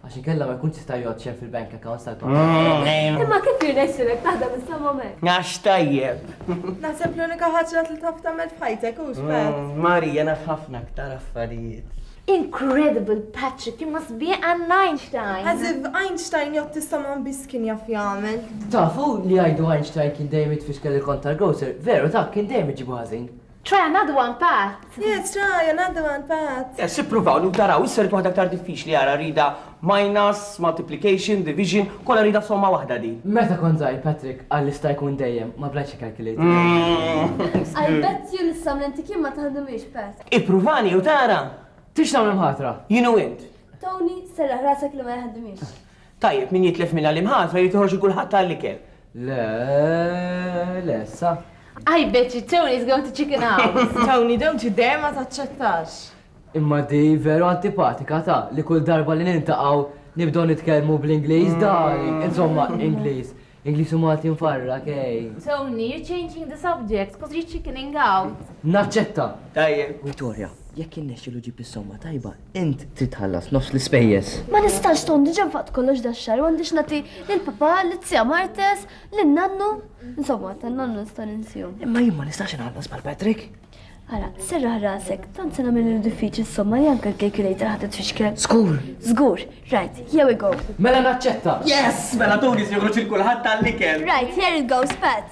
Għax inkella ma jkunx jista' jgħodd xejn fil-bank accounts tal-pappalil. Imma kif jirnexxilek taħdem is-somom hekk? Għax tajjeb. Naħseb l-unika ħaġa li taf tagħmel f'ħajtek hux f'hekk. Marija naf ħafna aktar affarijiet. Incredible Patrick, imma sbieħ għan Einstein! As if Einstein jgħodd is-somom biss kien jaf jagħmel. Tafu li jgħidu Einstein kien dejjem jitfixkel il-kont tal-grocer, veru ta, kien dejjem iġibu ħażin. Try another one, Pat! Yes, try another one, Pat! Yes, ippruvaw, u taraw, issa rrid waħda aktar diffiċli, ara, rridha minus, multiplication, division, kollha rridha f'somma waħda din. Meta kont żgħir, Patrick qalli sta jkun dejjem, ma bdajtx ikkalkilator. I bet you li s-samlenti kien ma taħdimiex, Pat. Ippruvani u tara! Tix tagħmel imħatra? Jien u int. Tony, serraħ rasek li ma jaħdimiex. Tajjeb, min jitlef minn għallim ħatra jrid joħroġ lil kulħadd għall-ikel. Le, le, sa. I bet you Tony is going to chicken house. Tony, don't you dare ma taċċettax. Imma di veru antipatika ta' li kull darba li nintaqaw nibdow nitkellmu bl-Ingliż dari, insomma, Ingliż. Ingliż u Malti nfarra, kej. Tony, you're changing the subject, cause you're chickening out. Naċċetta. Tajjeb. Vittoria, jekk innexxilu ġib is-somma tajba, Int trid tħallas nofs l-ispejjeż. Ma nistax Tom, diġà nfaqt kollox dax-xahar, m'għandix nagħti lil papà, lizzija Martes, lin nannu. Insomma, tan-nannu nista' ninsihom. Imma jien ma nistax inħallas bħal Patrick. Ara, serraħ rasek, tant se nagħmel diffiċli somma li anke l-calculator ħadet tfixkel. Żgur. Żgur, right, here we go. Mela naċċetta. Yes, mela tuni se joħroġ il kulħadd tal-ikel. Right, here it goes, Pat.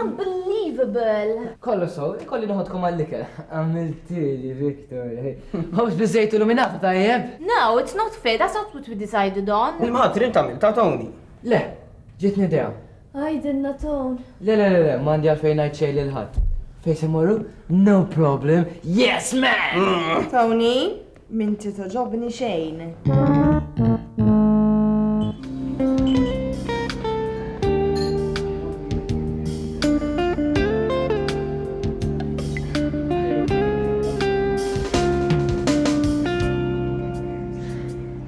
Unbelievable! Kollu so, kolli noħodkom għall-ikel. Għamiltili, Victor. Għawx bizzejt illuminata ta' jeb? No, it's not fair, that's not what we decided on. Il-maħat trim ta' ta' Tony. Le, ġitni idea. Għajdinna Ton. Le, le, le, le, mandi għalfejn għajt xej l-ħat. Fej se morru? No problem. Yes, man! Mm. Tony? M'inti togħġobni xejn.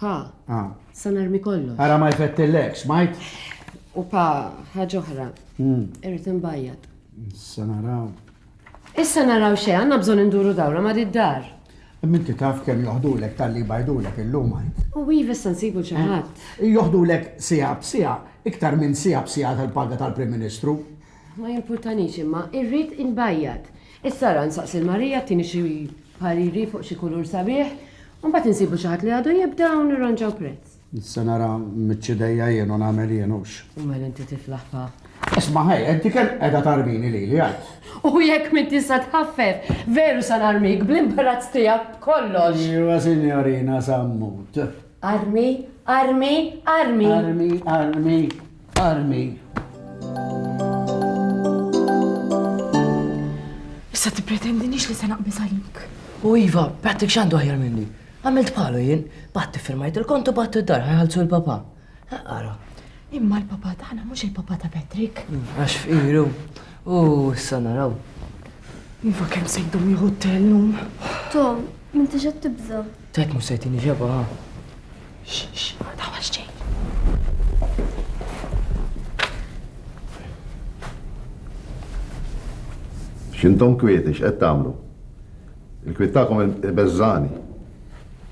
Pa. A. Se narmi kollox. Ara ma jfettillekx, smajt? U pa, ħaġa oħra. Irrid inbajjat. Issa naraw. Issa naraw xejn, għandna bżonn induru dawra ma' did-dar. Minti taf kemm joħdulek tal-li bajdulek illum għajt. U iva issa nsibu xi ħadd. Joħdulek siegħa b'siegħa, iktar minn siegħa b'siegħa tal-paga tal-Prim Ministru. Ma jimpurtanix imma irrid inbajjad. Issa ara nsaqsi 'l Marija tini xi pariri fuq xi kulur sabiħ u mbagħad insibu xi ħadd li għadu jibda u nirranġaw prezz. Se nara mmiċċ idejja jien u nagħmel jien hux. U mela inti tiflaħ pa. Isma' ħej, inti kemm qiegħda tarmini lili għid? U jekk m'int tista' tħaffef, veru sa narmik bl-imbarazz tiegħek b'kollox! Iva sinjorina Sammut. Armi, armi, armi! Armi, armi, armi. Issa tippretendinix li se naqbiż għalik. U iva, Patrick x'għandu aħjar minni. Għamilt bħalu jien, batti firmajt il-kontu batti d-dar ħajħalsu l-papa. Għara. Imma l-papa tagħna mhux il-papa ta' Patrick. Mm, għax f'iru. U issa naraw. Iva kemm sejdu jieħu t-tellum. Tom, minti ġed tibża. Tajt mhux se jtini ġeba ha. X'x, ma taħwax xejn. X'intom kwieti x'qed tagħmlu? Il-kwiet tagħkom ibeżżani.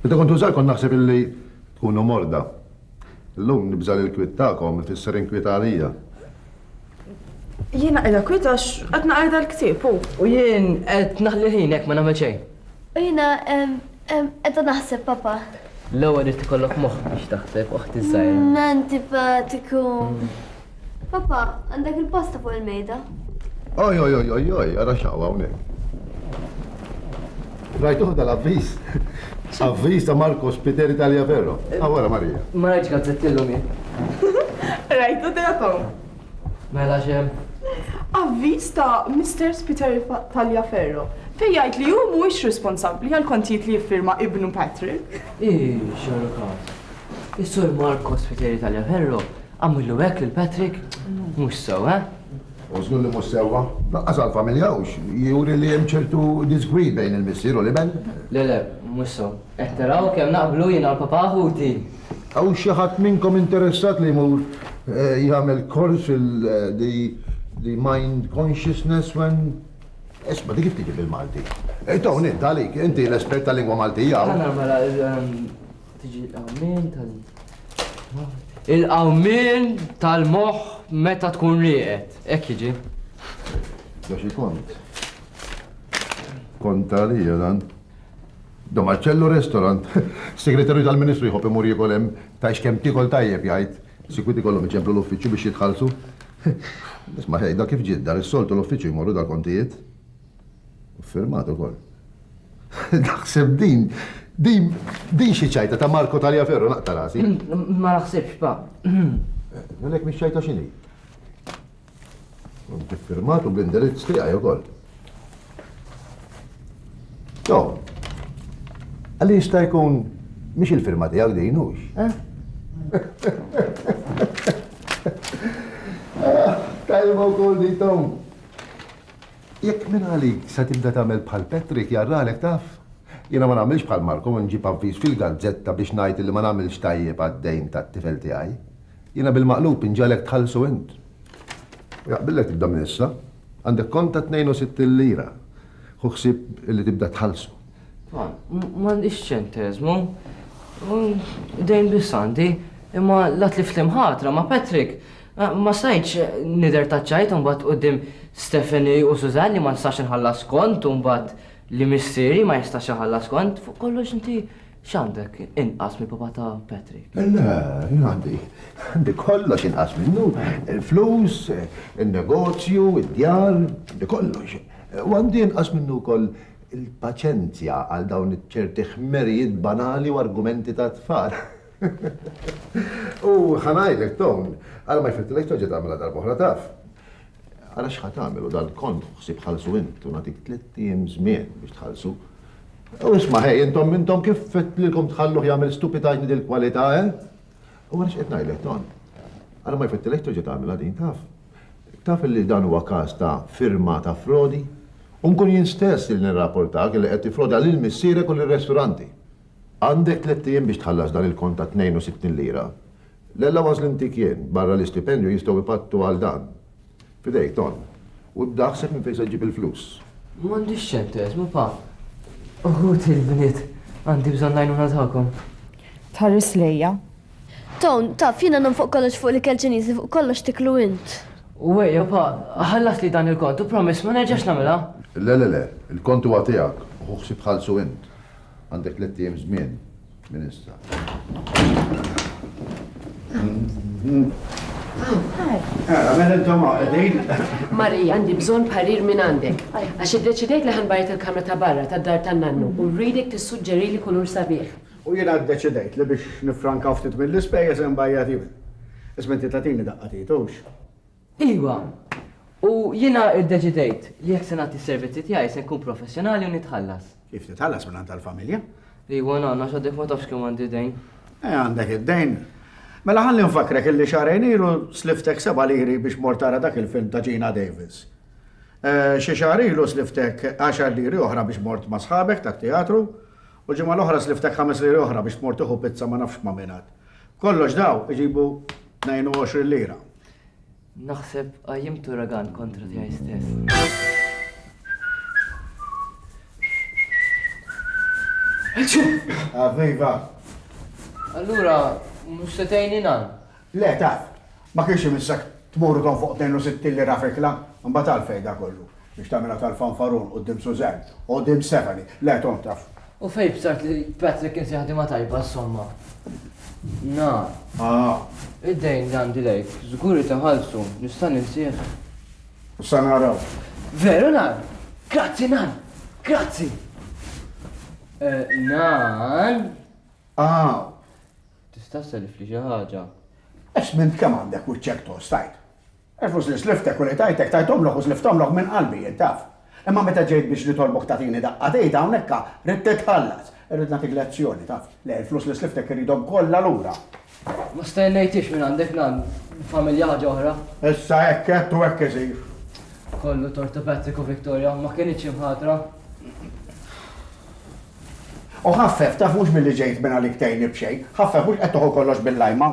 Meta kont użar kont naħseb illi tkunu morda. Illum nibża' li l-kwiet tagħkom ifisser inkwiet għalija. Jiena qiegħda kwiet għax qed naqra dal-ktieb u. U jien qed naħli ħin hekk ma nagħmel xejn. U jiena qiegħda naħseb, Papa. L-ewwel irid ikollok moħħ biex taħseb, oħti żgħira. Mm, antipatiku. Papa, għandek il-pasta fuq il-mejda? Oj, oj, oj, oj, oj, għara xawa hawnhekk. Rajtuħ dal-avviż. Avviż ta' Marco Spiteri Talia Ferro. Għawara ah, Marija. Ma rajtx gazzettillu mi. Rajtu delakom. Mela x'hemm? Avviż ta' Mister Spiteri Taliaferro fejn jgħid li hu mhuwiex responsabbli għall-kontijiet li jiffirma ibnu Patrick. Ih, x'għamlu każ. Is-Sur Marco Spiteri Taliaferro għamillu hekk lil Patrick? Mhux sew, eh? U żgur li mhux sewwa. Lanqas għall-familja hux. Juri li hemm ċertu diżgwid bejn il-missier u l-iben. Le le, mhux sew. Qed taraw kemm naqblu jiena u l-papà ħuti? Hawn xi ħadd minnkom interessat li jmur jagħmel kors fil-the mind consciousness when Isma' di kif tiġi bil-Malti? Ej Tony, int għalik, inti l-espert tal-lingwa Maltija. Mela, mela, tiġi l-qawmien tal Il-qawmien tal-moħħ meta tkun rieqed. Hekk jiġi. Għax kont. Kont għalija dan. Domacello Restaurant, Segretarju tal-Ministru jħobb imur jiekol hemm, tgħix kemm tiekol tajjeb jgħid, sikwit ikollhom iċemplu l-uffiċċju biex jitħallsu. Isma' tgħidha kif ġiet dar, is-soltu l-uffiċċju jmorru dal-kontijiet. U ffirmat ukoll. Naħseb din, din, din xi ċajta ta' Marco Taliaferro naqta' rasi. Ma naħsibx, Pa. Għalhekk mhix ċajta x'inhi? Inti firmatu bl-indirizz tiegħi wkoll. Jo, għalli jista' jkun mhix il-firma tiegħek din hux, eh? Tajba wkoll di Tom. Jekk minn għalik se tibda tagħmel bħal Patrick jarralek taf. Jiena ma nagħmilx bħal Marko nġib avviż fil-gazzetta biex ngħid li ma nagħmilx tajjeb għad-dejn tat-tifel tiegħi. Jiena bil-maqlub inġegħlek tħallsu int. U jaqbillek tibda minn issa. Għandek kont ta' 62 lira. Hu ħsieb li tibda tħallsu. Tfal, m'għandix ċenteżmu. Dejn biss għandi. Imma la tlift l-imħatra ma' Patrick. Ma stajtx nidher taċċajt imbagħad quddiem Stephanie u Suzanne li ma nistax inħallas kont u mbagħad li missieri ma jistax iħallas kont. Fuq kollox inti X'għandek inqas mill-papà ta' Patrick? Le, jien għandi. Għandi kollox inqas minnu. Il-flus, in-negozju, id-djar, għandi kollox. U għandi inqas minnu wkoll il-paċenzja għal dawn iċ-ċerti ħmerijiet banali u argumenti ta' tfal. U ħa ngħidlek, Tom, ara ma jfittilekx terġa' tagħmilha darba oħra taf. Ara x'ħa tagħmel u dal-kont ħsieb ħallsu int u nagħtik tliet ijiem żmien biex tħallsu. U isma' ħej, intom intom kif fittlilkom tħalluh jagħmel stupitajt dil kwalità eh? U għaliex qed ngħidlek ton. Ara ma jfittilek terġa' tagħmilha din taf. Taf li dan huwa każ ta' firma ta' frodi? U nkun jien stess li nirrapportak li qed tifroda lil missierek u lir-resturanti. Għandek tliet ijiem biex tħallas dan il-kont ta' 62 lira. L-allowance li ntik jien, barra l-istipendju, jistgħu jpattu għal dan. F'idejk, Ton. U d-daħsek minn fejn se ġġib il-flus? M'għandix ċenteżmu, Pa. Uħud il-bniet għandi bżonn l-għajnuna tagħkom. Tħares lejja. Ton, taf, jiena nagħmel fuq kollox fuq l-ikel Ċiniż li fuq kollox tiklu int. U ejja, Pa, ħallasli dan il-kont u promess ma nerġax nagħmilha. Le, le, le. Il-kont huwa tiegħek u hu ħsieb tħallsu int. Għandek tlett ijiem żmien. Ministra. Marija, għandi bżon parir minn għandek. Għax id-deċidejt li ħanbajt il-kamra ta' barra ta' dar ta' nannu u rridek tissuġġeri li kulur sabiħ. U jena d-deċidejt li biex nifranka ftit mill-ispejjeż imbajjat jien. Isma' inti tatini daqqa titux. Iva, u jiena ddeċidejt li jekk se nagħti s-servizzi tiegħi se nkun professjonali u nitħallas. Kif titħallas minn tal-familja? Iva, nagħna x'għadek ma tafx kemm għandi dejn. Eh, għandek id-dejn. Mela ħalli nfakrek illi xarejn ilu sliftek seba' liri biex mortara dak il-film ta' Gina Davis. Eh, xi xahar ilu sliftek 10 liri oħra biex mort ma' sħabek tat-teatru u ġimgħa l-oħra sliftek 5 liri oħra biex mort iħu pizza ma nafx ma' minat. Kollox daw iġibu 22 lira. Naħseb għajjimt uragan kontra tiegħi stess. Aveva. Allura, mux setajni nan? Le, ta' ma kienx imissak tmur don fuq 62 li rafikla, mbatal fejda kollu. Biex tagħmilha tal-fanfarun quddiem Suzanne u quddiem Stephanie. Le, Tom, taf. U fejn bsart li Patrick kien xi ħadima tajba, insomma. Na. Ah. Id-dejn li għandi lejk, żgur li taħallsu, nista' ninsih. Sa naraw. Veru nan. Grazzi nan. Grazzi. Eh, nan. Ah. Tista' self li xi ħaġa. Esmint kemm għandek u ċek tostajt. Il-flus li sliftek u li tajtek, tajthomlok u slifthomlok minn qalbi, int taf. Imma meta ġejt biex nitolbok tagħtini daqqa t'id hawn hekka, ridt titħallas. Irrid nagħtik lezzjoni, taf. Le, il-flus li sliftek irridhom kollha lura. Ma stennejthiex mingħandek, nan. Familja ħaġa oħra. Issa hekk għedt u hekk isir. Kollu tort ta' Patrick u Victoria, ma kinitx imħatra. U ħaffef, taf, mhux billi ġejt mingħalik tgħinni b'xejn. Ħaffef, mhux qed toħu kollox bil-lajma.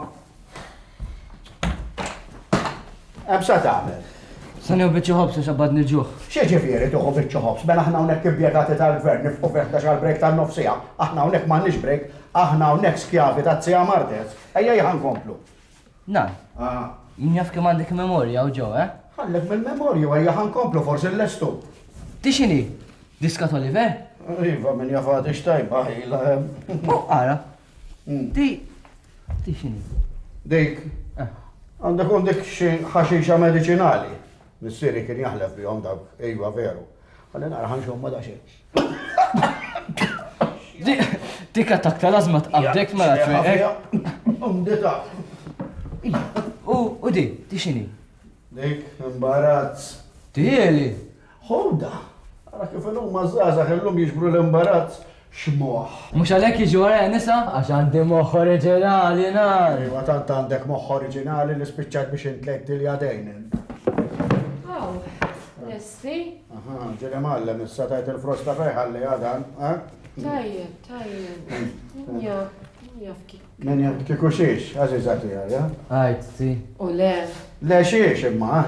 Hemm sa tagħmel. Se nieħu biċċa ħobs u xabbad niġuh. Xi ġifieri tieħu biċċa ħobs, mela aħna hawnhekk impjegati tal-gvern nifqu fih ta' xal break tan-nofsija, aħna hawnhekk m'għandniex break, aħna hawnhekk skjavi ta' Zija Martez. Ejja jħan komplu. Na. Ah. Jien jaf kemm għandek memorja u ġew, eh? Ħallek mill-memorju ejja ħan komplu forsi l-lestu. Tixini? Diska Oliver? Iva, minn jafati xtajba, ħila. Ara, Di. Di xini? Dik. Eh. Għandek un dik ħaxixa medicinali. Missiri kien jaħlef bihom dak, ejwa veru. Għalli nara ħanxom ma daċi. Dik attak tal-azma tqabdek ma mela tfiqek. Umdita. U di, di xini? Dik, imbarazz. Tieli. Honda, Ara kif ilhuma ż-żgħażagħ illum jiġbru l-imbarazz x'moħħ. Mhux għalhekk jiġu warajja nisa? Għax għandi moħħ oriġinali ngħid! Iva tant għandek moħħ oriġinali li spiċċajt biex intlejt lil jadejn. Aw, lesti? Aha, ġieli mgħallem issa tajt il-frosta fejn ħalliha dan, ha? Tajjeb, tajjeb. Min jaf, min jaf kif. Min jaf kieku xiex, għażiża tiegħi, ha? Għid, si. U le. Le xiex imma, ha?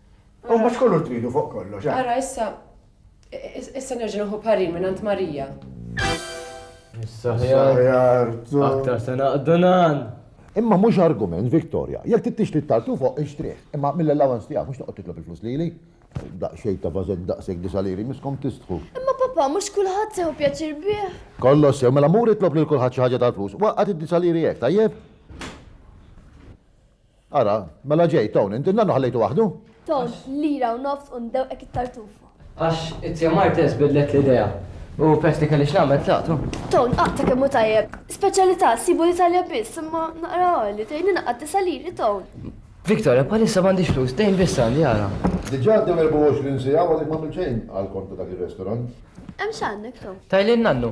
U mhux kulur tridu fuq kollox. Eh? Ara issa issa nerġa' nħu parir minn Ant Marija. Issa ħjar. Aktar se naqdu nan. Imma mhux argument, Victoria. Jekk tittix li tartu fuq ixtrih, imma mill-allowance tiegħek mhux toqgħod titlob il-flus lili. Daqsxejn ta' vażet daqshekk disaliri miskom tistħu. Imma papa mhux kulħadd sew pjaċir bih. Kollox sew mela mur itlob lil kulħadd xi ħaġa tal-flus. Waqgħet id-disaliri hekk, tajjeb? Ara, mela ġejt, hawn, int in-nannu ħallejtu waħdu? Ton, lira u nofs u ndewqek it-tartuf. Għax it-Tia Martez bidlet l-idea u peress li kelli x'nagħmel tlaqt u. Ton, għaqta kemm hu tajjeb. Speċjalità ssibu l-Italja biss, imma naqra għoli, tgħinni ngħaqqad disa' liri, Ton? Victoria, bħalissa m'għandix flus, dejn biss għandi, ara. Diġà għaddew 24 siegħa u għadek m'għamilt xejn għall-kont ta' dak ir-restaurant. Hemm x'għandek, Ton? Tajli n-nannu.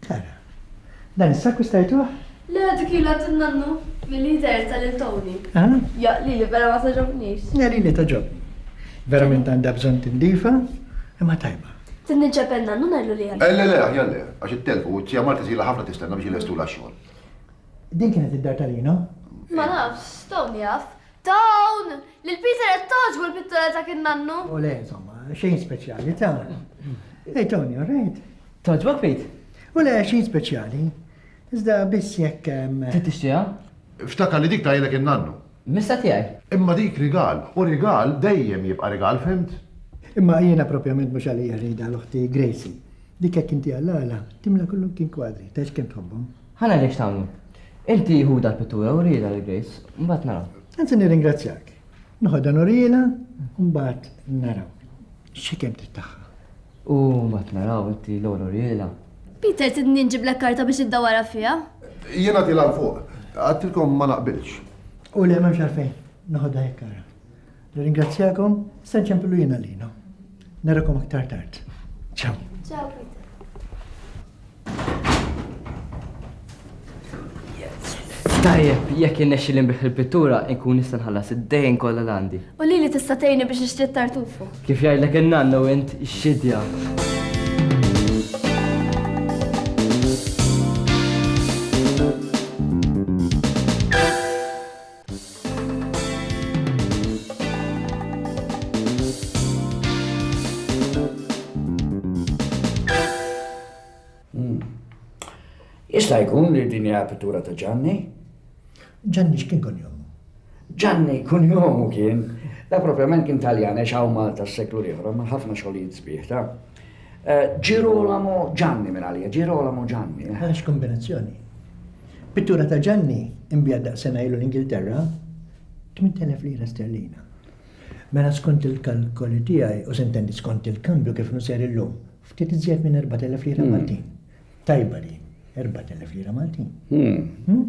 Sara, Dan is-sakku stajtuh? Le, dik hi l-għadd in-nannu, milli jidher ta' lil Toni. Ah? Ja, lili vera ma togħġobnix. Ja, lili togħġobni. Verament għandha bżonn tindifha, imma tajba. Trid ninċep in-nannu ngħidlu li hemm. Eh, le, le, aħjar le, għax ittelfu u t-tija Marta tila ħafna tistenna biex jilestulha x-xogħol. Din kienet id-dar ta' Lino? Ma nafx, Toni jaf. Dawn! Lil Peter qed togħġbu l-pittura ta' kien nannu. U le, insomma, xejn speċjali ta'. Ej Tony, all right? Togħġbok Pete? U le, xejn speċjali. Iżda biss jekk hemm. Trid tixtiha? Ftakar li dik tajlek in-nannu. Missa tiegħi. Imma dik rigal, u rigal dejjem jibqa' rigal, fimt? Imma jiena propjament mhux għalija rridha l-oħti Gracie. Dik jekk intiha l-għala, timla kullum kien kwadri, tgħidx kemm tħobbhom. Ħa nara x'tagħmlu. Inti ħu dal-pittura u riedha lil Grace, mbagħad naraw. Anzi nirringrazzjak. Noħodha nuriela, mbagħad naraw. Xi kemm trid tagħha. U mbagħad naraw inti l-ewwel uriela. Peter, tidni nġiblek karta biex iddawara fiha? Jiena tilha l fuq. Għadtilkom ma naqbilx. U le m'hemmx għalfejn. Noħodha hekk ara. Nirringrazzjakom, se nċempilu jiena lina. Narakom aktar tard. Ciao. Ciao Peter. Tajjeb, jekk innexxi li nbih il-pittura, inkun nista' nħallas id-dejn kollha l-għandi. U li li tista' tgħinni biex nixtri tartufu. Kif jgħidlek in-nanna u int xidja. Jista' jkun li din hija pittura ta' Ġanni? Ġanni x'kien kun jomu? Ġanni kun jomu kien, da propjament kien Taljan ex hawn Malta s-seklu l-ieħor, ma ħafna xogħlijiet sbieħ ta' eh, Girolamo Ġanni minn għalija, Girolamo Ġanni. Eh. Għax kombinazzjoni. Pittura ta' Ġanni inbiegħet daqs sena ilu l-Ingilterra, 8,000 lira sterlina. Mela skont il-kalkoli tiegħi, u se ntenni skont il-kambju kif inhu sejr illum, ftit iżjed minn 4,000 lira hmm. Maltin. Tajba din, 4,000 lira Maltin. Hmm. Hmm?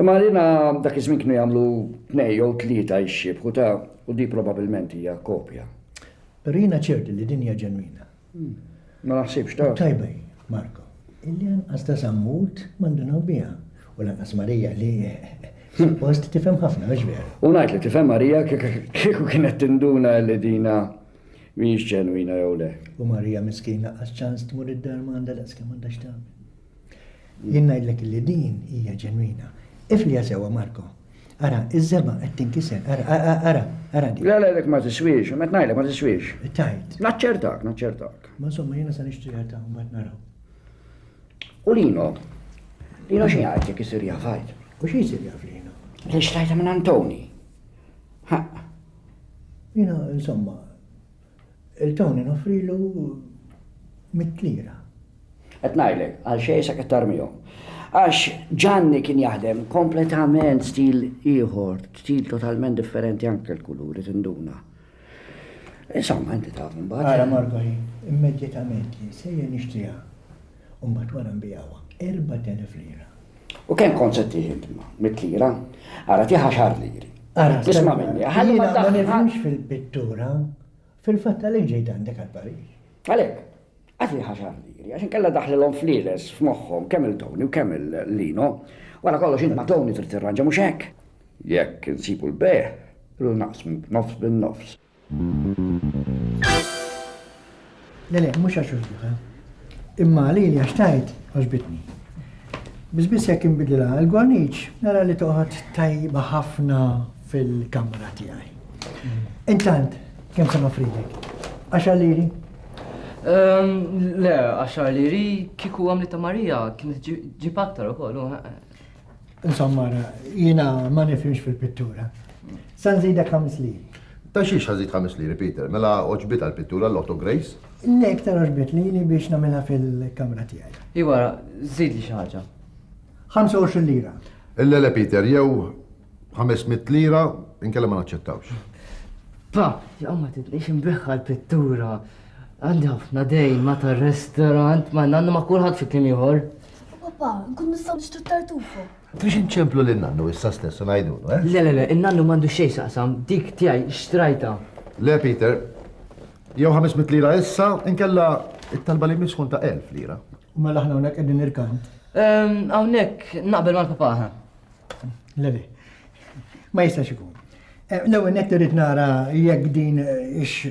Imma għalina dak iż-żmien kienu jagħmlu tnej jew tlieta jxibħu ta' u di probabbilment hija kopja. Rina ċerti li din hija ġenwina. Ma naħsibx taf. Tajba hi, Marco, illi anqas ta' sammut ma ndunaw biha, u lanqas Marija li suppost tifhem ħafna, mhux vera? U ngħid li tifhem Marija kieku kienet tinduna li dina mhijiex ġenwina jew le. U Marija miskina għax ċans tmur id-dar ma għandha daqskemm għandha x'tagħmel. Jien ngħidlek illi din hija ġenwina. Ifliha sewwa Marco. Ara, iż-żebgħa qed tinkiser. Ara, ara, ara din. Le, le, dik ma tiswiex, qed ngħidlek ma tiswiex. Tgħid. Naċċertak, naċċertak. Ma insomma jiena se nixtriha ta' mbagħad naraw. U Lino? Lino xi jgħid jekk isir jaf għid? U xi jsir jaf Lino? Li xtrajta minn Antoni. Jiena insomma Il-Tony noffrilu mitt lira. Qed ngħidlek, għal xejn sa qed tarmihom. Għax Ġanni kien jaħdem kompletament stil ieħor, stil totalment differenti anke l-kuluri tinduna. Insomma, inti taf imbagħad. Ara Margoli, immedjatament li nsejjer nixtriha. U mbagħad wara nbigħuha. Erbat elef lira. U kemm kont se tieħ int ma? Mitt lira? Ara tieħ għaxar liri. Ara, isma' minni. Ħalli ma daħħal. Ma nifhimx fil-pittura. Fil-fatt għalhekk ġejt għandek għal Pariġ. Għalhekk, għad tieħ għaxar liri. Għax inkella daħlilhom fliles f'moħħhom kemm il-Tony u kemm il-Lino. Wara kollox int ma' Tony trid tirranġa mhux hekk. Jekk insibu l-bejgħ, irridu naqsmu nofs bin-nofs. Le, le, mhux għax għoġbuha. Imma għalili għax tajt għoġbitni. Biss biss jekk inbidilha l-gorniċ, nara li toqgħod tajba ħafna fil-kamra tiegħi. Intant, kemm se nofrilek? Għax għalili? Ehm, le, għax għalili kieku għamli ta' Marija kien ġib aktar ukoll. Insomma, jina ma nifimx fil-pittura. San zidek ħames liri. Ta' xiex ħazid ħames liri, Peter? Mela oġbita l-pittura l-Otto Grace? Le, iktar oġbit lili biex namela fil-kamra tijaj. Iwa, zid li xaħġa. 25 lira. Le, le, Peter, jew 500 lira, inkella ma naċċettawx. Pa, jgħamma tidnix imbiħħa l-pittura. Għandi ħafna dejn ma ta' restorant ma nanna ma kulħadd fi klim ieħor. U papà, nkun nistgħu nixtru tartufu. Trix inċemplu lil nannu issa stess u ngħidulu, eh? Le, le, le, in-nannu m'għandu xejn saqsam, dik tiegħi xtrajta. Le, Peter, jew 500 lira issa, inkella it-talba li jmiss tkun ta' 1000 lira. U mela aħna hawnhekk qegħdin irkant. Ehm, hawnhekk naqbel mal-papà. Le, le, ma jistax ikun. Eh, l-ewwel nett irrid nara jekk din ix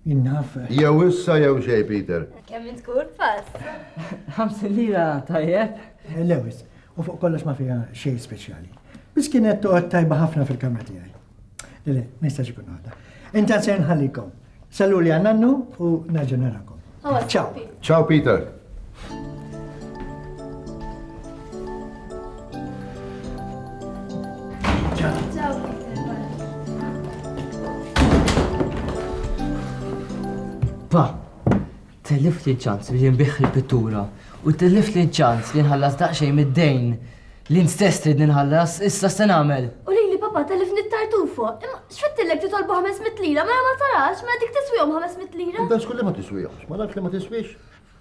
Innaf. Jew issa jew xej, Peter. Kemm tkun pass? Ħamsin lira tajjeb? Eh, Lewis, u fuq kollox ma fija xej speċjali. Bis kienet toqgħod tajba ħafna fil-kamra tiegħi. Le, ma jistax ikun għadha. Inta se nħallikom. Sallu li għannannu u nerġa' narakom. Ciao. Ciao Peter. Pa, tellif li ċans li nbiħ il-pittura u tellif li ċans li nħallas daqxej mid-dejn L-int stess tridni nħallas, issa se nagħmel? U lili papà telifni t-tartufo. Imma x'fittillek titolbu 500 lira, mela ma tarax, mela dik tiswihom 500 lira. Dan skulli ma tiswihomx, ma nafx li ma tiswix.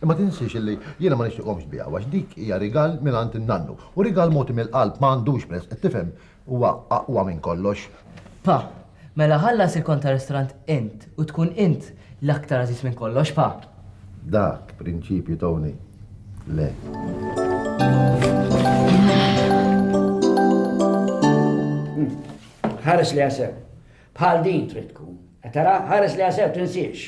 Imma tinsiex illi jiena ma nixtieqhomx tbiegħu għax dik hija rigal minn għand in-nannu. U rigal mogħti mill-qalb ma għandux prezz, qed tifhem? Huwa aqwa minn kollox. Pa, Mela ħallas il-kont tar-ristorant int u tkun int l-aktar għażiż minn kollox, pa. Dak prinċipju, Tony. Le. Ħares li għasew. Bħal din trid tkun. Tara, ħares li għasew tinsiex.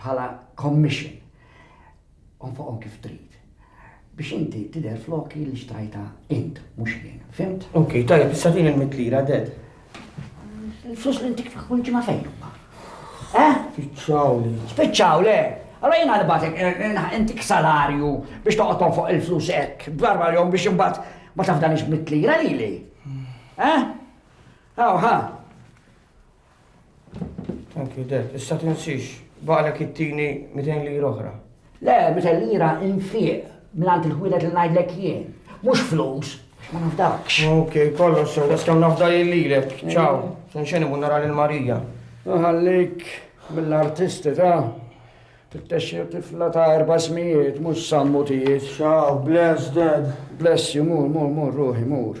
bħala commission, onfoqhom kif trid, biex inti tidher floki li xtrajta int, mhux jien, fimt? Ok, tajjeb, issa fejn il-mit lira, ded? Il-flus li intik kull ġimgħa fejn huma? Eh? Spiċċaw li. Spiċċaw le. Allora jena nibatek, eh, eh, eh, intik salarju biex toqgħod fuq il-flus hekk, darba jom biex imbagħad ma tafdanix mit-lira lili. Hmm. Eh? Aw, ha. Thank you, Dad. Issa tinsix, baqlek it-tini 200 lira oħra. Le, 200 lira infiq mill-għant il-ħwielet li ngħidlek jien. Mhux flus, ma nafdakx. Ok, kollox sew, bas kemm nafda lilek. Ċaw, nxeni bu nara lil Marija. Ħallik mill-artisti ta' tittexxi tifla ta' erba' smijiet, mhux sammutijiet. Ċaw, bless dad. Bless you, mur, mur, mur, ruħi, mur.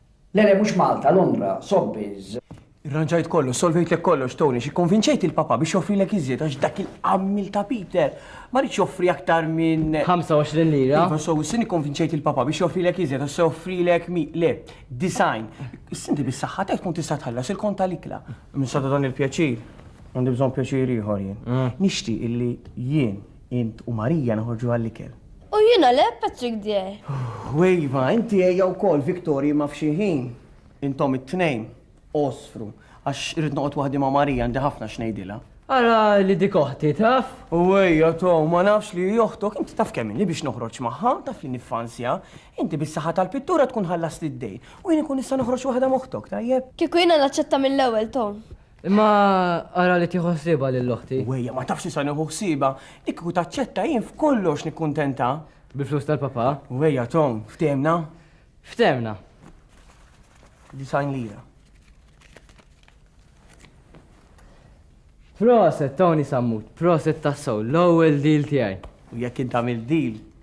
Le le mhux Malta, Londra, Sobbies. Irranġajt kollox, solvejtlek kollox, Tony, x'ikkonvinċejt il-Papa biex joffrilek iżjed għax dak il-qammil ta' Peter ma ridx joffri aktar minn 25 lira. Iva, so, s-sin ikkonvinċejt il-Papa biex joffrilek iżjed għax se joffrilek mi, le, design. Sinti bis-saħħa tiegħek tkun tista' tħallas il-kont tal-ikla. Minn sada dan il-pjaċir, għandi bżonn pjaċir ieħor jien. Nixtieq illi jien Int u Marija noħorġu għall-ikel. U jiena le, Patrick dear. U Eva, inti ejja wkoll, Victorie, ma f'xi ħin. Intom it-tnejn għosfru, għax irrid noqgħod waħdi ma' Marija, għandi ħafna x'ngħidilha. Ara li dik oħti, taf? U ejja, Tom, ma nafx li hi oħtok, inti taf kemm inhi biex noħroġ magħha, taf li niffansja. Inti bis-saħħa tal-pittura tkun ħallast id-dejn, u jien inkun nista' noħroġ waħda m'oħtok, tajjeb? Kieku jiena naċċetta mill-ewwel, Tom. Imma ara li tieħu ħsiebha lil oħti. Wejja, ma tafx nista' nieħu ħsiebha, li kieku taċċetta jien f'kollox nikkuntenta. Bil-flus tal-papà? Wejja, Tom, ftehimna? Ftehimna. Disgħin lira. Proset, Tony Sammut, proset tassew, l-ewwel deal tiegħi. U jekk int tagħmel deal,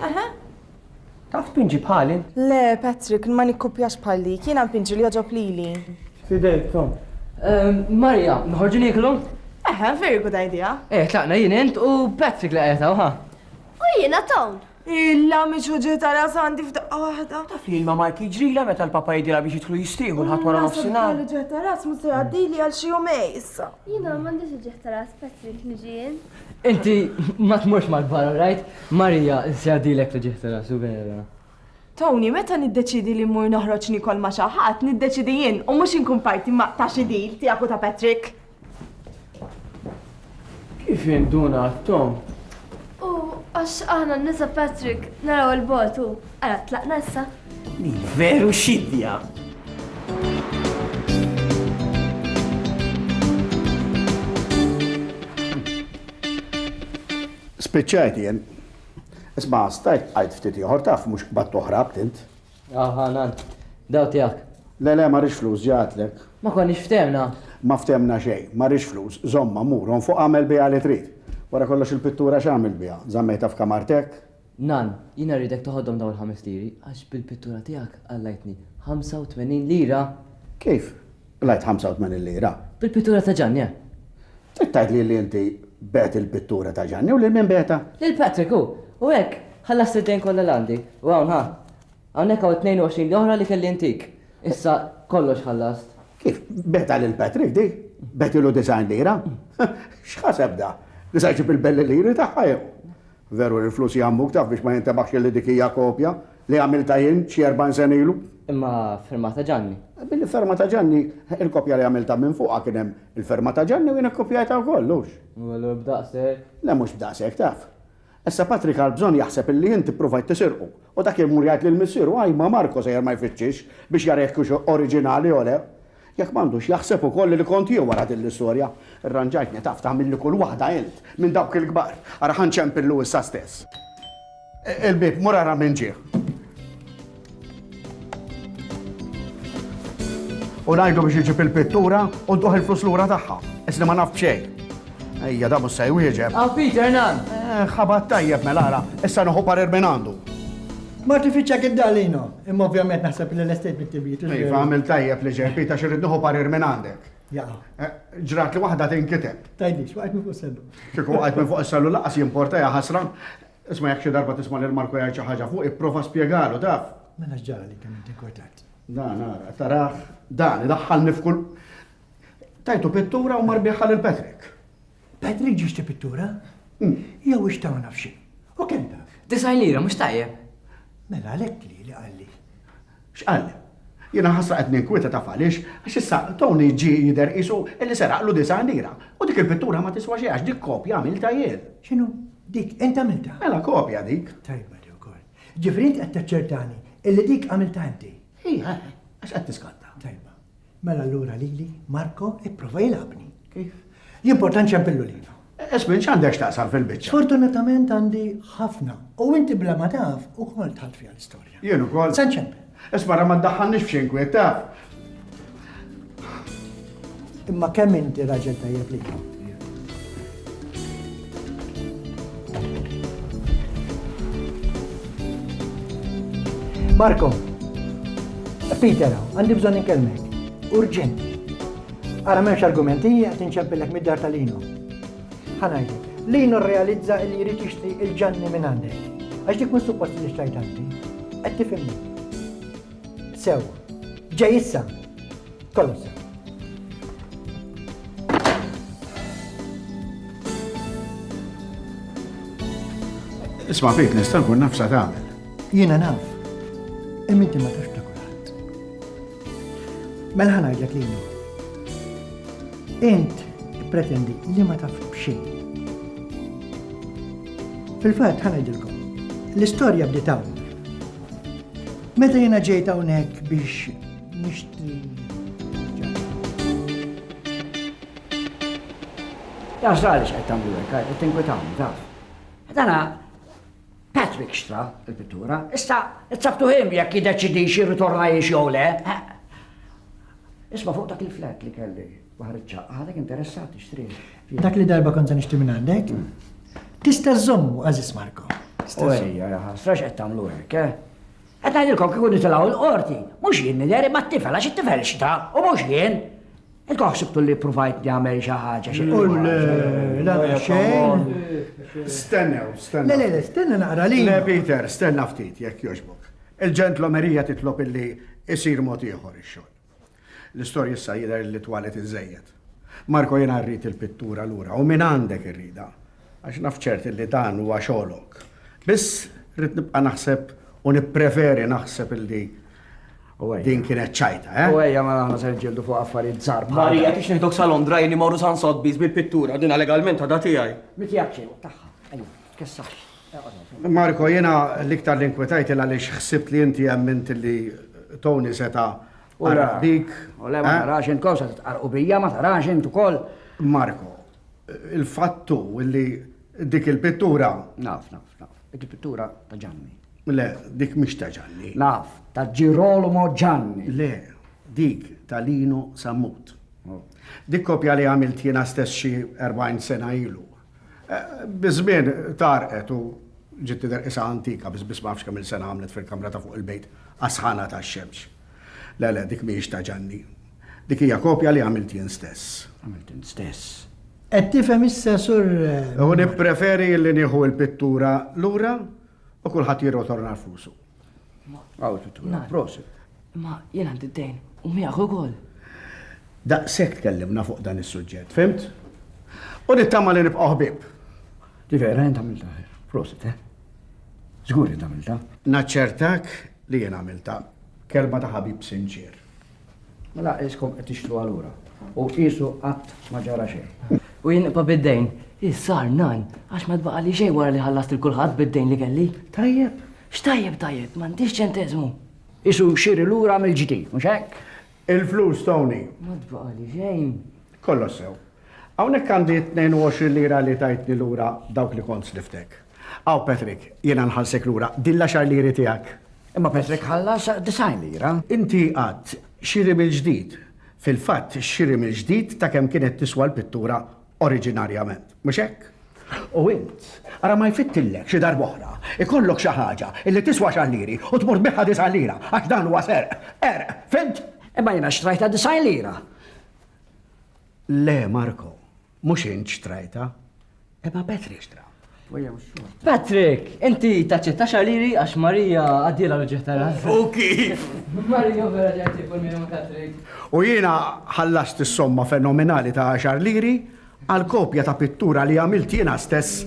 Aha. Taf tpinġi bħali? Le, Patrick, ma nikkupjax bħalik, jiena npinġi li joġob lili. Fidejk, Tom. Ehm, Marja, nħorġu nieklu? Eħe, very good idea. Eh, tlaqna jien int u Patrick li qajta, uħa. U jiena Tom. Illa miex uġi ta' rasandi f'daqqa waħda. Taf li l-mamma tiġrila meta l-papa jidila biex jitħlu jistiħu l-ħat wara nofsinhar. Ġeħ ta' ras musa jgħaddili għal xi jumej issa. Jiena m'għandix ġeħ ta' ras Patrick niġi jien. Inti ma tmurx mal-kbar, all right? Marija, se jgħaddilek li ġieħ tara, su vera. Tony, meta niddeċiedi li mmur noħroġ niekol ma' xi ħadd, niddeċiedi jien u mhux inkun parti ma' ta' xi deal tiegħek u ta' Patrick. Kif jinduna Tom? U għax aħna n-nisa Patrick naraw 'il bogħod u ara tlaqna issa. Din veru xidja! Spiċċajt jien. Isma, stajt għajt ftit ieħor taf mhux qbad oħra btint. Aha, nan. Daw tiegħek. Le le, ma rix flus ġatlek. Ma konniex ftemna. Ma ftemna xejn, ma rix flus, żomma murhom fuq għamel biha li trid. Wara kollox il-pittura x'għamil biha? Żammejta f'kamartek? Nan, jiena rridek toħodhom dawn il-ħames liri, għax bil-pittura tiegħek qalajtni 85 lira! Kif? Qlajt 85 lira? Bil-pittura ta' Ġanni, eh! Trid tgħidli li inti bigħt il-pittura ta' Ġanni u lil min bigħtha? Lil Patrick hu! U hekk ħallast id-dejn kollha li għandi. U hawn, ha! Hawnhekk hawn it-22 oħra li kelli ntik. Issa kollox ħallast. Kif? Bigħtha lil Patrick dik? Bigħtilu 90 lira? X'ħaseb da? Li se jġib il-belli liri tagħha jew? Veru li l-flus jgħammuk taf biex ma jintebaħx illi dik hija kopja li għamiltha jien xi erbgħin sena ilu. Imma firma ta' Ġanni. Bil-firma ta' Ġanni, il-kopja li għamiltha minn fuqha kien hemm il-firma ta' Ġanni u jien ikkupjajtha wkoll, hux? U allura b'daqshekk? Le mhux b'daqshekk taf. Issa Patrick għal bżonn jaħseb illi inti ppruvajt tisirqu u dak imur jgħid lil missieru ajma Marco sejjer ma jfittxix biex jara jekk hux oriġinali jew le. Jekk m'għandux jaħseb ukoll li kont jien wara din l-istorja. Irranġajt nitaf tagħmilli kull waħda int, minn dawk il-kbar. Ara ħa nċempillu issa stess. Il-bieb, mur ara min ġie. U ngħidlu biex iġib il-pittura u dduh il-flus lura tagħha. Isni ma naf b'xejn. Ejja, da mhux se jwieġeb. Aw Peter nan! Eh, ħabat tajjeb mela ara, issa noħu parir minn għandu. Marti fiċċek id-dar Lino. Imma ovvjament naħseb li l-estate bit tibit. Iva, għamil tajjeb li ġej, Pita, xirrid nieħu parir minn għandek. Eh, ġrat li waħda tinkiteb. Tajdix, waqt minn fuq s-sellu. Kiku waqt minn fuq s-sellu laqas jimporta ja ħasra. Isma jek xi darba tisma' lil Marko jgħid xi ħaġa fuq, ipprova spjegalu taf. Mela ġara li kemm inti kortat. Dan ara, taraħ, dan idaħħalni f'kull. Tajtu pittura u marbiħħa lil Patrick. Patrick ġiex ti pittura? Jew ixtaw naf xi. U kemm taf? Disaj lira mhux tajjeb. Mela għalhekk li li qalli. X'qalli? Jiena ħasra qed ninkwieta taf għaliex għax issa Tony ġi jidher qisu illi seraqlu disaj lira. U dik il-pittura ma tiswa xi għax dik kopja għamilta jien. X'inhu? Dik int għamilta? Mela kopja dik. Tajba li wkoll. Ġifri int qed taċċertani illi dik għamilta inti. Ija, għax qed tiskatta. Tajba. Mela allura lili, Marco, ipprova jilgħabni. Kif? L-importanti hemm fil-lulina. Esmin, x'għandek x'taqsam fil-biċċa? Sfortunatament għandi ħafna. U inti bla ma taf ukoll tħalt fiha l-istorja. Jien ukoll. Se nċempel. Ismara ma ddaħħalniex f'xi inkwiet taf. Imma kemm inti raġel tajjeb li Marco, Peter, għandi bżon inkellmek. Urġent. Ara memx argumenti, għat inċempillek mid-dar tal-Lino. Ħanajdu, Lino realizza li jrid jixtri il-ġanni minn għandek. Għax dik minn suppost li xtajt għandi. Qed tifhimni. Sew, ġej issa. Kollox sew. Isma' fik nista' nkun naf sa tagħmel. Jiena naf. Imma inti ma tax ta' kulħadd. Mela ħanajdlek li jnu. Int pretendi li ma taf b'xejn. Fil-fatt ħanajdilkom. L-istorja bdiet hawn. Meta jiena ġejt hawnhekk biex Taf għaliex qed tagħmlu hekk, qed tinkwitawni taf. Dana Patrick xtra il-pittura, issa tsabtu him jekk jiddeċidix jirritorna jiex jew le. Isma' fuq dak il-flat li kelli baħar iċ-ċaqqa, għadek interessat ixtri. Dak li darba kont se nixtri minn għandek, tista' żommu għażis Marko. Ejja, jaħasrax qed tagħmlu hekk, eh? Qed ngħidilkom kieku nitilgħu l-Qorti, mhux jien nidher imma t-tifel għax it-tifel x'ta u mhux jien. Intkom ħsibtu li ppruvajt nagħmel xi ħaġa xi xejn. Stennew, stennew. Le, le, le, stenna naqra li. Le, Peter, stenna ftit jekk jogħġbok. Il-ġentlomerija titlob illi isir mod ieħor ix-xogħol. L-istorja issa jidher li twalet iżżejjed. Marco jiena rrid il-pittura lura u minn għandek irridha għax naf ċert li dan huwa xogħlok. Biss rrid nibqa' naħseb u nippreferi naħseb li din kienet ċajta, eh? U ejja mela aħna se nġildu fuq affarijiet żgħar bħal. Marija tix nieħdok sa Londra jien immorru San Sotbis bil-pittura dina legalment għadha tiegħi. Miki għaċċin tagħha. Marko, jena l-iktar l-inkwetajt il għalix xsibt li inti għemmint li Tony seta għarabik. U le ma eh? tarax int kol sa titqarqu bija, ma tarax int ukoll. Marko, il-fattu li dik il-pittura. Naf, naf, naf. Dik il-pittura ta' ġanni. Le, dik mish ta' ġanni. Naf, ta' Girolamo ġanni. Le, dik ta' Lino Sammut. Oh. Dik kopja li għamilt jena stess xi 40 sena ilu. Biż-żmien tgħarrqet u ġiet tidher qisha antika biss biss ma nafx kemm-il sena għamlet fil-kamra ta' fuq il-bejt għas-sħana tax-xemx. Le, le, dik mhijiex ta' Ġanni. Dik hija kopja li għamilt jien stess. Għamilt int stess. Qed tifhem issa, Sur Newman? U nippreferi li nieħu l-pittura lura u kulħadd jirrotorna rfusu. Għaw titwila, prosit. Ma jien għandi d-dejn, u miegħek ukoll. Daqshekk tkellimna fuq dan is-suġġett, fimt? U nittama li nibqgħu ħbieb. Ġifieri rajn tagħmilta, prosit, eh? Żgur li tagħmilta. Naċċertak li jien għamilta kelma ta' ħabib sinċier. Mela iskom qed tixtru għalura. U qisu qatt ma ġara xejn. U jien nibqa' bid-dejn. Issar nan, għax ma tbaqa' li xejn wara li ħallast il kulħadd bid-dejn li kelli. Tajjeb. X'tajjeb tajjeb, m'għandix ċenteżmu. Isu xiri lura mill-ġdid, mhux hekk? Il-flus, Tony. Ma tbaqa' li xejn. Kollox sew. Hawnhekk għandi t-22 lira li tajtni lura dawk li kont sliftek. Hawn Patrick, jiena nħallsek lura din l-għaxar liri tiegħek. Imma Patrick ħallas 90 lira. Inti għadt, xiri mill-ġdid. Fil-fatt, xiri mill-ġdid ta' kemm kienet tiswa l-pittura oriġinarjament, mhux hekk? U int, ara ma jfittillek xi darb'oħra, ikollok xi ħaġa li tiswa għaxar liri u tmur tbiħha disa' lira, għax dan huwa serq, qerq, fhimt? Imma jiena xtrajtha 90 lira. Le, Marko, mhux int xtrajta, imma Petri xtra. Patrick, inti taċċetta xaliri għax Marija għaddiela l-ġeħ tara. U kif? Marija vera ġenti kun minn Patrick. U jiena ħallast is-somma fenomenali ta' xarliri għal kopja ta' pittura li għamilt jiena stess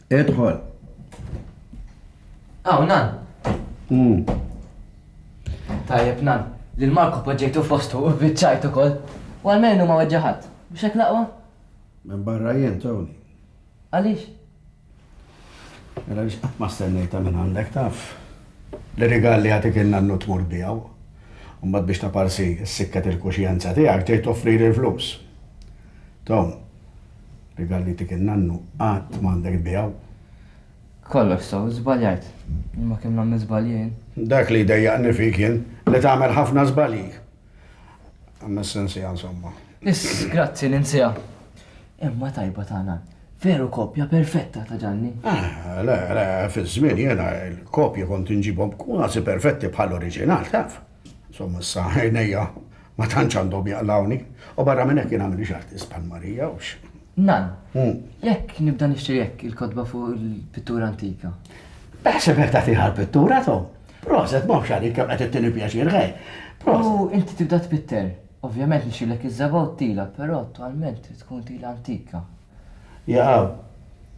Idħol. Aw, nan. Mm. Tajjeb, nan. Lil Marko poġġejtu fostu u biċċajt ukoll. U għalmenu ma weġġa' ħadd. Mhux hekk l-aqwa? Minn barra jien, Tony. Għaliex? Mela biex qatt ma stennejta minn għandek taf. Li rigal li għatik il-nannu tmur bijaw. Umbat biex taparsi s-sikket il-kuxjenza tijak tejt offri l-flus. Tom, Rigal li jtik in-nannu qatt m'għandek tbiegħu. Kollox sew, żbaljajt. Imma kemm nagħmel żbalji jien? Dak li jdejjaqni fik jien, li tagħmel ħafna żbalji. Ammess insiha insomma. Iss, grazzi, ninsiha. Imma tajba ta' nan. Veru kopja perfetta ta' Ġanni. Ah, le, le, fiż-żmien jiena l-kopji kont inġibhom kważi perfetti bħall-oriġinal, taf. Insomma, issa għajnejja ma tantx għandhom jaqlawni, u barra minn hekk jien għamilix artist bħal Marija u x. Nan, hmm. jekk nibda nixtri jekk il-kotba fuq il-pittura antika. Taħseb jekk tagħti ħal pittura to? Proset, ma xarik kemm qed ittini pjaċir ħej. U inti tibda tpitter. Ovvjament nixilek iż-żaba u t-tila, però attualment tkun tila antika. Jaqaw.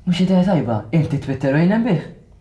Mhux idea tajba, inti tpitter u jnem bih.